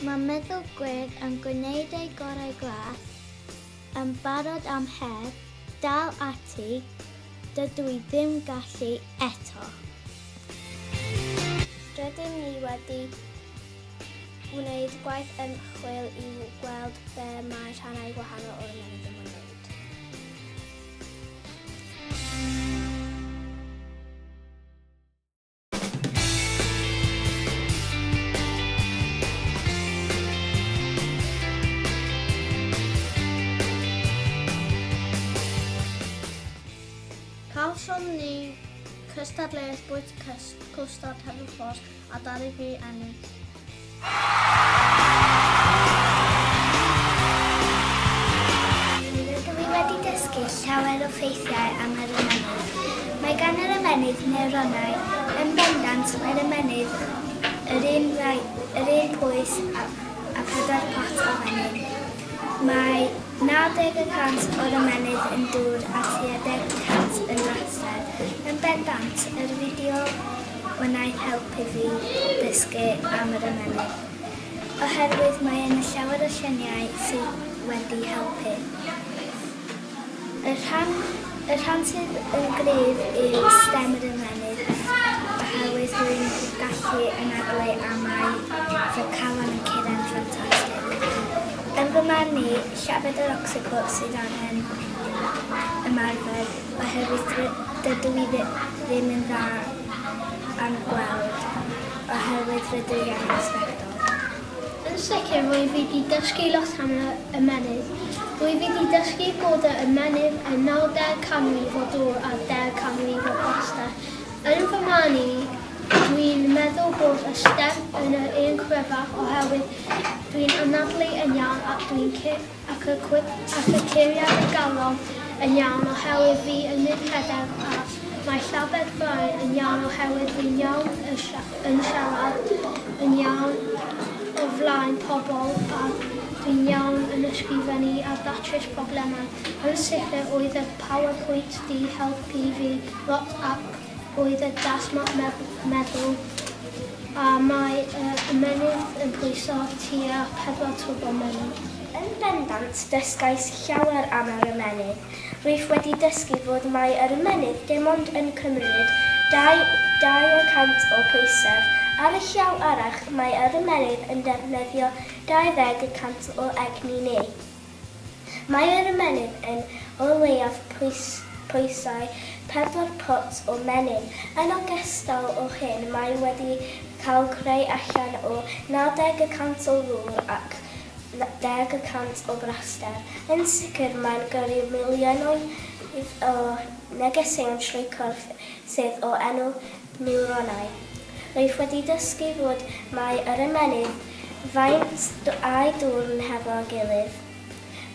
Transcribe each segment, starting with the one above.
Mae meddygwyr yn gwneud eu gorau glas, yn barod am her, dal ati, dydw i ddim gallu eto. Rydyn ni wedi gwneud gwaith ymchwil i weld be mae rhannau gwahanol o'r ymennydd yn wneud. Cawsom ni cystadleuaeth bwyta cwstard heddwchos a ddaru fi ennill. Rydw i wedi dysgu llawer o ffeithiau am yr ymennydd. Mae gan yr ymennydd newronau, yn bendant mae'r ymennydd yr un rai, yr un pwys a, a phedair pot o fenyn. Mae 90 y cant o'r ymennydd yn dŵr a tua deg y cant yn laser. Yn bendant, yr fideo wnaeth helpu fi ddysgu am yr ymennydd, oherwydd mae yna llawer o lluniau sydd wedi helpu. Y rhan, y rhan sydd yn gryf yw stem yr ymennydd, oherwydd rwy'n gallu anadlu a mae fy calon yn curo'n ffantastig. Yn fy marn i, llafur yr ocsipodes sydd angen ymarfer. Oherwydd rydw i ddim yn dda yn gweld, oherwydd rydw i angen sbectol. Yn sicr rwyf i 'di dysgu lot am yr ymennydd. Rwyf i 'di dysgu bod yr ymennydd yn nawdeg canrif o dwr a deg canrif o blaster. Yn fy marn i, dwi'n meddwl bod y stem yn yr un cryfaf oherwydd dwi'n anadlu yn iawn ac dwi'n ac y cyfeiriad y galon yn iawn oherwydd fi yn mynd rhedeg a mae llabed Brian yn iawn oherwydd fi'n iawn yn siarad yn iawn o flaen pobl a fi'n iawn yn ysgrifennu a datrys problemau. Yn sicr oedd y powerpoint 'di helpu fi lot ac Oedd y dasmor meddwl a mae y ymennydd yn pwyso tua pedwar twb o menyn. Yn bendant dysgais llawer am yr ymennydd. Rwyf wedi dysgu fod mai yr ymennydd dim ond yn cymryd 20 y cant o bwysedd. Ar y llaw arall mae yr ymennydd yn defnyddio 20 y cant o egni ni. Mae yr ymenyn yn o leiaf pwysau pedwar pot o menyn. Yn ogystal o hyn mae wedi cael creu allan o 90 y cant o ddŵr ac 10 y cant o braster. Yn sicr mae'n gyrru miliynoedd o negeseuon trwy corff sydd o enw niwronau. Rwyf wedi dysgu fod mai yr ymennydd faint â'i dwrn hefo'r gilydd.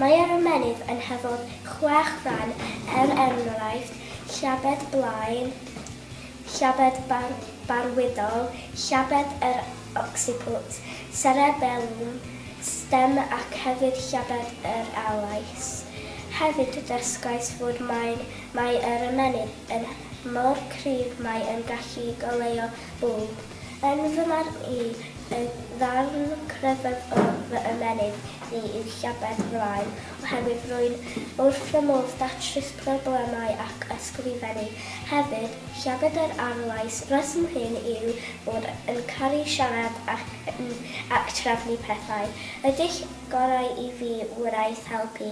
Mae yr ymennydd yn hefo'r chwech ran er enghraifft llabed blaen, llabed barwydol, llabed yr occiput, serebelwm, stem ac hefyd llabed yr alais. Hefyd dysgais fod mai yr ymennydd er mor cryf mae yn gallu goleuo bwlb. Yn fy marn i, y ddarn cryfaf o fy ymennydd ni yw llabed flaen, oherwydd rwy'n wrth fy modd datrys problemau ac ysgrifennu. Hefyd, llabed yr arlais, rheswm hyn yw bod yn caru siarad ac trefnu pethau. Ydych gorau i fi wraig helpu